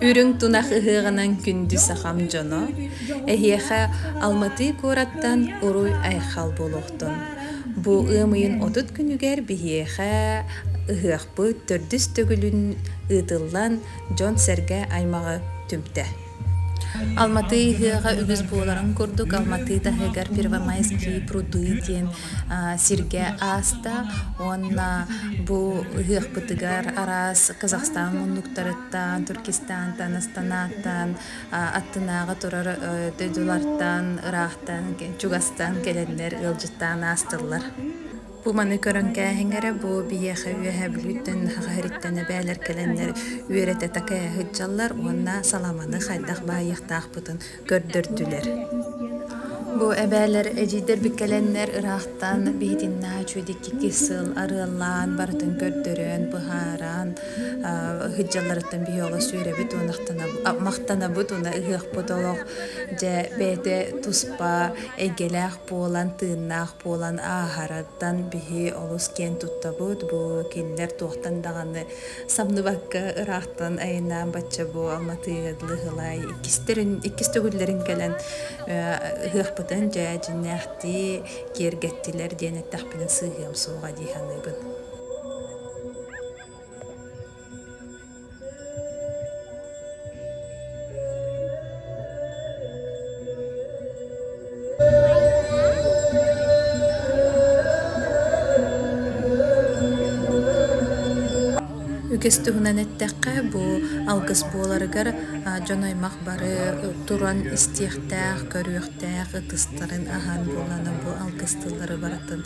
Үрүҥ тунах ыһыаҕынан күндү сахам дьоно, эһиэхэ Алматыы куораттан уруй-айхал буолуохтун. Бу ыам ыйын отут күнүгэр биһиэхэ ыһыахпыт төрдүс төгүлүн ыытыллан дьон-сэргэ аймаҕы түмтэ. Алматыы ыһыаҕа үгүс буоларын курдук, Алматыы таһыгар Первомайские пруды диэн сиргэ ааста уонна бу ыһыахпытыгар араас Казахстан муннуктарыттан, Түркистантан, Астанаттан, аттынааҕы турар дойдулартан, ыраахтан, чугастан кэлэннэр ыалдьыттаан аастыллар. Бу маны көрөн кээһиҥ эрэ, бу биһиэхэ үөһээ Бүлүүттэн Нахаһариттэн эбээлэр кэлэннэр үөрэтэ такайа сылдьаллар уонна саламаны хайдах баайыахтаахпытын көрдөрдүлэр. Бу эбээлэр эдьиийдэрбит кэлэннэр ыраахтан биһитиннаа үчүгэйдик сыл арыаллаан барытын көрдөрөн, быһааран сылдьалларыттан биһи олус үөрэбит уонна махтанабыт уонна ыһыахпыт олох дьэ бэйэтэ туспа эйгэлээх Буолан тыыннаах буолан ааһарыттан биһи олус киэн туттабыт, бу кинилэр туохтан даҕаны самныбакка ыраахтан айынаан бачча бу Алматыга Дылыһылай иккистэрин иккис төгүллэрин кэлэн ыһыахпытын дьэ дьиннээхтии киэргэттилэр диэн эттэхпинэ сыыһыам суоҕа дии саныыбын. Үгүс туһунан эттэххэ, бу алгыс буоларыгар дьон-аймах бары туран истиэхтээх, көрүөхтээх ытыстарын аһан буолана бу алгыс тыллары барытын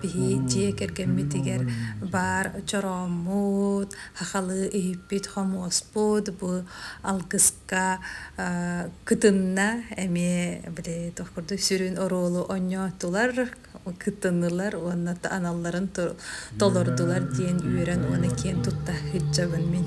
Биһи дьиэ кэргэммитигэр баар чорооммут, хахалы иһиппит хомуоспут, бу алгыска кытынна эмиэ били туох курдук сүрүн оруолу онньоотулар, кытынылар уонна аналларын толордулар диэн үөрэн уона киэн тутта сылдьабын мин.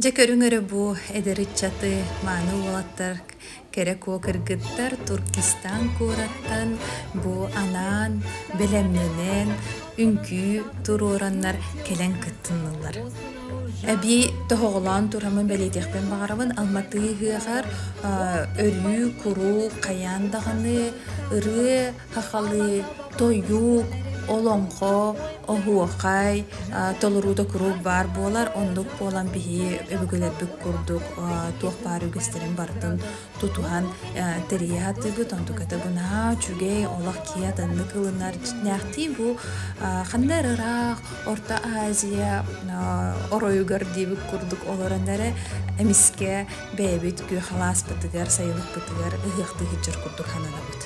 Дьэ көрүҥ өрө бу эдэр ыччаты мааны уолаттар кэрэ куо кыргыттар Туркестан куораттан бу анаан бэлэмнэнэн үҥкүү туруораннар кэлэн кыттыннылар. Эби тоһоҕолоон турамын бэлиэтиэхпин баҕарабын Алматы ыһыаҕар өрүү куруук хайаан даҕаны ырыа хахалыы, тойук, олоҥхо, оһуохай толоруута куруук баар буолар. Оннук буолан биһи өбүгэлэрбит курдук туох баар үгэстэрин барытын тутуһан тэрийэ сатыыбыт. Онтуката бынаһа үчүгэй, олох киһи атыннык ылынар. Дьиҥнээхтии бу ханна эрэ ыраах Орто Азия оройугар диэбит курдук олорон эрэ эмискэ бэйэбит күөх алааспытыгар, сайылыкпытыгар ыһыахтыы сылдьар курдук сананабыт.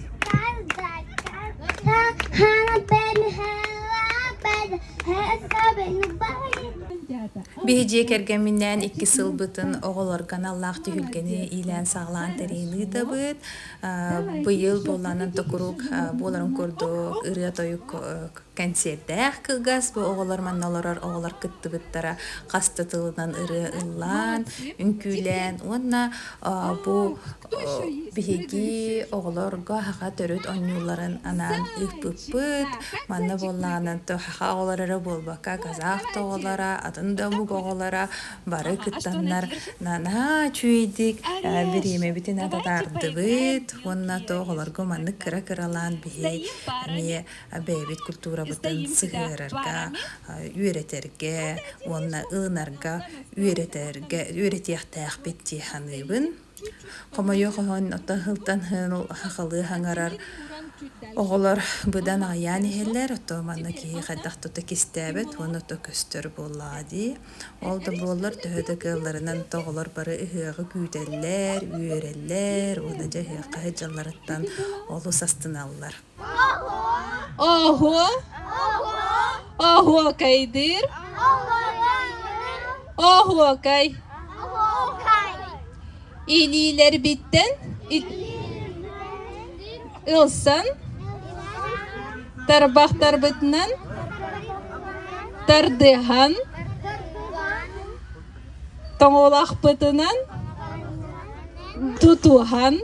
Биһи дьиэ кэргэмминээн иккис сылбытын оҕолорго аналлаах түһүлгэни иилээн-саҕалаан тэрийэлиитабыт. Быйыл буоллаанан да куруук буоларын курдук ырыа-тойук кэнсиэрдээх кылгас бу оҕолор манна олорор оҕолор кыттыбыттара хас да тылынан ырыа ыллаан, үҥкүүлээн уонна бу Биһиги оҕолорго аһаха төрүт оонньууларын анаан ыыппыппыт. Манна буоллаҕына аһаха оҕолоро эрэ буолбакка, казах да оҕолоро, атын да омук оҕолоро бары кыттаннар наанаа үчүгэйдик бириэмэбитин ататаардыбыт уонна то оҕолорго маннык кыра-кыралаан биһи эмиэ бэйэбит культурабытын сыһыарарга, үөрэтэргэ уонна ылынарга үөрэтэргэ үөрэтиэхтээхпит дии саныыбын. Хомойуох иһин ото сылтан иһин халыы хаҥарар оҕолор быдан аҕыйаан иһэллэр ото манна киһи хайдах тута кистээбэт уонна ото көстөр буоллаҕа дии. Ол да буоллар төһө да кыалларынан ото оҕолор бары ыһыаҕы күүтэллэр, үөрэллэр уонна дьэ ыһыахха сылдьалларыттан олус астыналлар. Оһуо оһуокайдыыр оһуокай илиилэрбиттэн ылсан тарбахтарбытынан тардыһан тоҥолахпытынан тутуһан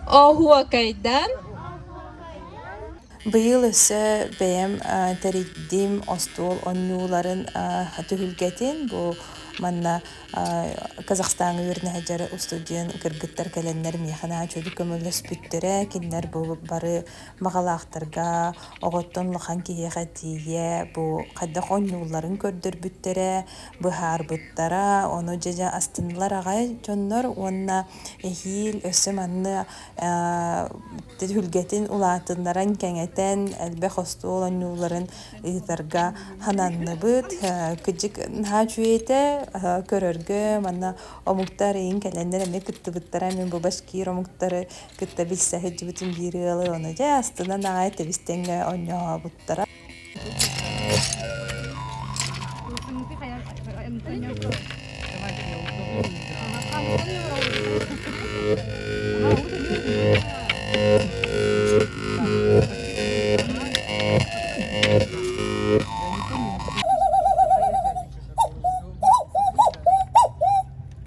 Оһуокайдан Быйыл өссө бэйэм тэрийдим остуол онньууларын түһүлгэтин. Бу манна Казахстан үөрэнэ сылдьар устудьуон кыргыттар кэлэннэр миэхэ наһаа чөл көмөлөспүттэрэ. Кинилэр бу бары Баҕалаахтарга оҕоттон улахан киһиэхэ тиийэ бу хайдах оонньуулларын көрдөрбүттэрэ, быһаарбыттара. Ону дьэ астыннылар аҕай дьоннор уонна эһиил өссө манна түһүлгэтин улаатыннаран, кэҥэтэн, элбэх остуол оонньууларын ыытарга сананныбыт. Кыдьык наһаа үчүгэйэ көрөргө манна омуктар эйиин кэлэннэр эмиэ кыттыбыттара. Эмиэ бу башкир омуктары кытта билсэ сылдьыбытым биир ыалы ону дьэ астынан аҕай тэбистэнгэ онньообуттара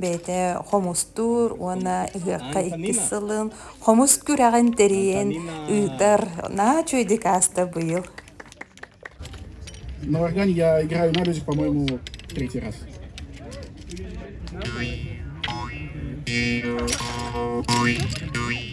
бэйэтэ хомустуур уонна ыһыахха иккис сылын хомус күрэҕин тэрийэн ыытар наачой декаста быйыл На орган я играю на рюзе, по-моему, третий раз.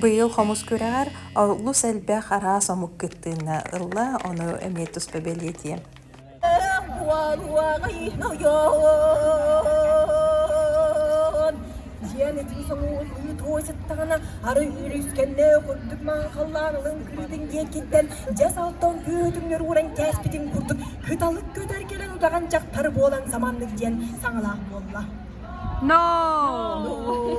Быйыл хомус күрэҕэр олус элбэх араас омук кыттыыны ылла, ону эмиэ туспа бэлиэтиэм. Диэн итии соҥуут үүт уойсыттаҕына ары үрүскэннэ курдук маахаллаан ылын күрүтүн диэкиттэн дьэс алтан күөтүҥнөр ууран кээспитин курдук кыталык көтөр кэлэн утаҕан дьахтар буолан саманнык диэн саҥалаах буолла. No. No.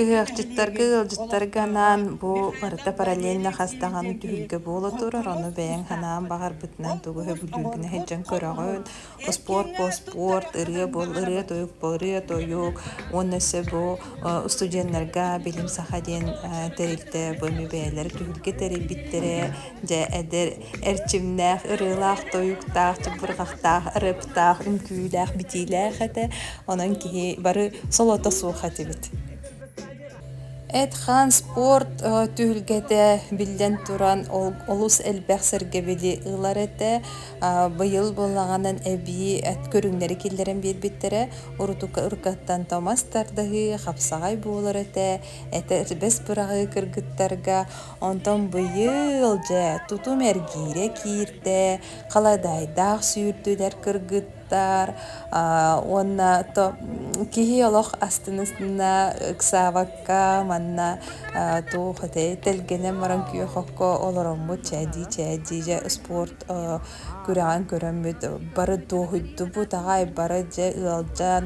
Ыһыахчыттарга, ыалдьыттарга анаан бу барыта параллельно хас даҕаны түһүлгэ буола турар, ону бэйэҥ санаан баҕарбытынан тугу сөбүлүүгүнэ сылдьан көрөҕүн. Успуорт бу успуорт, ырыа буол ырыа-тойук буол ырыа-тойук уонна сөп бу устудьуоннарга билим саха диэн тэрилтэ бу эми бэйэлэрэ түһүлгэ тэрийбиттэрэ. Дьэ, эдэр эрчимнээх, ырыылаах-тойуктаах, чыбырҕахтаах, ырыаптаах, үҥкүүлээх-битиилээх этэ. Онон киһи бары солото суох этибит. Эт-хаан, спорт түһүлгэтэ биллэн туран олус элбэх сэргэбили ылар этэ. Быйыл буоллаҕынан эбии көрүҥнэри киллэрэн биэрбиттэрэ. Уруккаттан томас тардыһыы, хапсаҕай буолар этэ. Этэ бэс быраҕыы кыргыттарга Онтон быйыл, дьэ, тутум эргиирэ киирдэ, халадаайдаах сүүрдүлэр кыргыттар уонна киһи олох астына-ыстына ыксаабакка манна туох этэй тэлгэнэн баран күөх окко олороммут чээдии-чээдии дьэ спорт күрэҕин көрөммүт бары дуоһуйдубут аҕай бары дьэ ыалдьан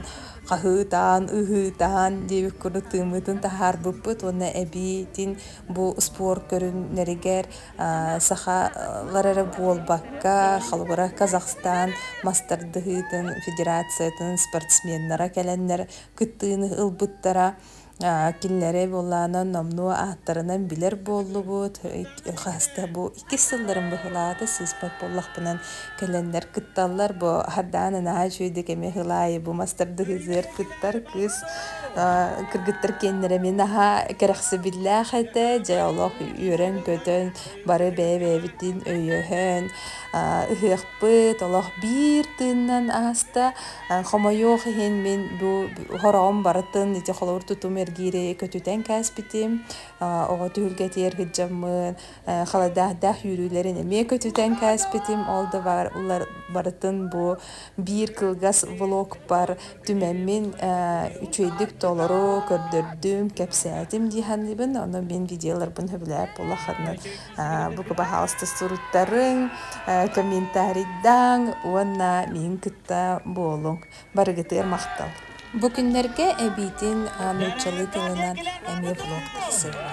хаһыытаан ыһыытаан диэбит курдук тыыммытын таһаарбыппыт уонна эбиитин Бу спорт көрүҥнэригэр сахалар эрэ буолбакка, холобура, Казахстан мастардыһыытын федерациятын спортсменнара кэлэннэр кыттыыны ылбыттара. Кинилэри буолаана номнуо ааттарынан билэр буоллубут. Хаста бу Иккис сылларым быһылаата сыыспат буоллахпынан, кэлэннэр кытталлар. Бу хардаан анаа үчүгэй да кэми ыһыл аайы бу мастардыһыгар кыттар кыыс кыргыттар киэннэрэ мин наһаа кэрэхсэбиллээх этэ. Дьэ олох үөрэн-көтөн бары бэйэ-бэйэбитин өйөһөн ыһыахпыт олох биир тыыннан ааста. Хомойуох иһин мин бу хороҕум барытын ити холобур тутум эргири көтүтэн кээспитим. Оҕо түһүлгэтигэр кыддьаммын халайдаахдаах үүрүүлэрин эмиэ көтүтэн кээспитим ол да баҕар барытын бу биир кылгас влогпар түмэммин үчүгэйдик толору көрдөрдүм кэпсээтим дии саныыбын ону мин видеоларбын сөбүлээбит буоллаххытынан бу баһаалыста суруттарыҥ комментарийдаҥ уонна миин кытта буолуҥ барыгытыгар махтал! Бу күннэргэ эбиитин нууччалыы тылынан эмиэ влог тахсылла.